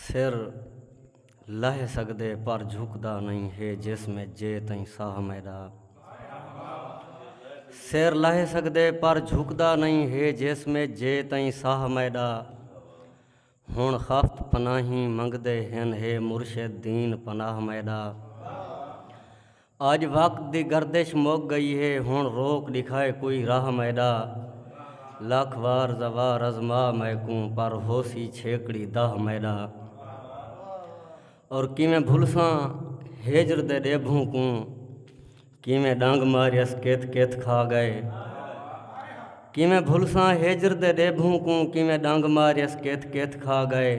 سر لہہ سڳدے پر جھکدا نئیں ہے جسم ءچ جے تئیں ساہ میݙا سر لہہ سڳدے پر جھکدا نئیں ہے جسم ءچ جے تئیں ساہ میݙا ہݨ خفت پناہیں منڳدے ہن ہے مرشد دین پناہ میݙا اج وقت دی گردش مک گئی ہے ہن روک ڈکھائے کوئی راہ میڈا لکھ وار زوار ازما میکوں پر ہوسی چھیکڑی داہ میڈا اور کیویں بھلساں ہجر دے ڈیبھوں کوں کیویں ڈنگ ماریس کت کت کھا گئے کیویں بھلساں ہجر دے ڈیبھوں کوں کیویں ڈنگ ماریس کت کت کھا گئے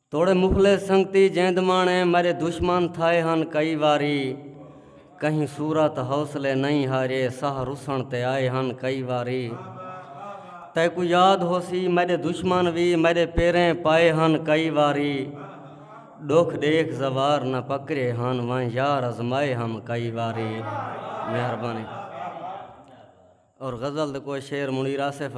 توڑے مخلص سنگتی جیند مانے مرے دشمن تھائے ہن کئی واری کہیں صورت حوصلے نہیں ہارے ساہ رسن تے آئے ہن کئی واری تیکو یاد ہوسی مرے دشمن وی مرے پیریں پائے ہن کئی واری ڈوکھ ڈیکھ زوار نہ پکرے ہن وائیں یار ازمائے ہم کئی واری مہربانی اور غزل دے کوئی شعر منیر آصف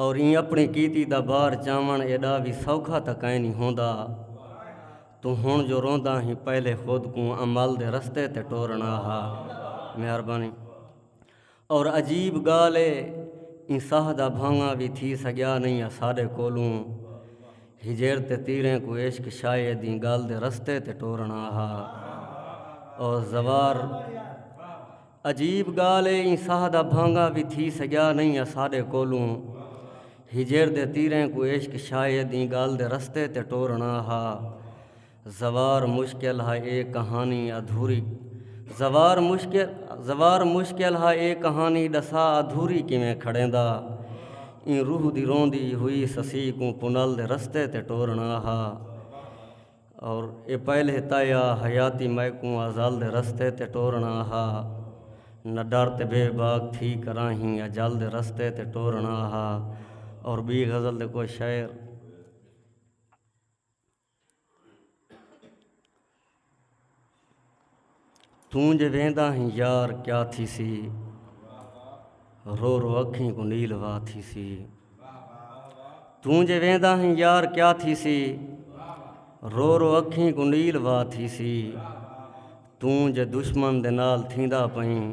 اور ایں اپنی کیتی دا بار چاوݨ ایݙا وی سوکھا تاں کائنی ہوندا۔ توں ہݨ جو روندا ہیں پہلے خود کوں عمل دے رستے تے ٹورݨا ہا۔ مہربانی۔ اور عجیب ڳالھ اے ایں ساہ دا بھانگا وی تھی سڳیا نئیں اساݙے کولوں۔ ہجر تے تیریں کوں عشق شاید ایں ڳالھ دے رستے تے ٹورݨا ہا۔ اور زوار۔ عجیب گالھ اے ایں ساہ دا بھانگا وی تھی سگیا نئیں اساڈے کولوں ہجر دے تیریں کوں عشق شاید ایں گالھ دے رستے تے ٹورنڑا ہا زوار مشکل ہا اے کہانی ادھوری زوار مشکل زوار مشکل ہا اے کہانی ڈسا ادھوری کیویں کھڑیندا ایں روح دی روندی ہوئی سسی کوں پنل دے رستے تے ٹورنڑا ہا۔ اور اے پہل ہتا یا حیاتی مئے کوں آزال دے رستے تے ٹورنا ہا نہ ڈر تے بے باک تھی کراں ہی اجال دے رستے تے ٹورنا ہا اور بی غزل دے کوئی شعر توں جے ویندا ہیں یار کیا تھیسی رو رو اکھیں کو نیل وا تھیسی توں جے ویندا ہیں یار کیا تھیسی رو رو اکھیں کو نیل وا تھیسی توں جے دشمن دے نال تھیندا پئیں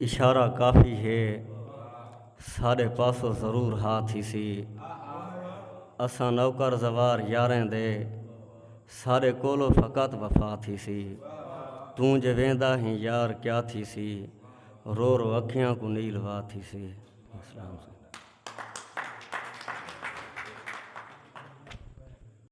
اشارہ کافی ہے ساڈے پاسوں ضرور ہا تھیسی اساں نوکر زوار یاریں دے ساڈے کولو فقط وفا تھیسی توں جے ویندا ہیں یار کیا تھیسی رو رو اکھیاں کو نیل وا تھیسی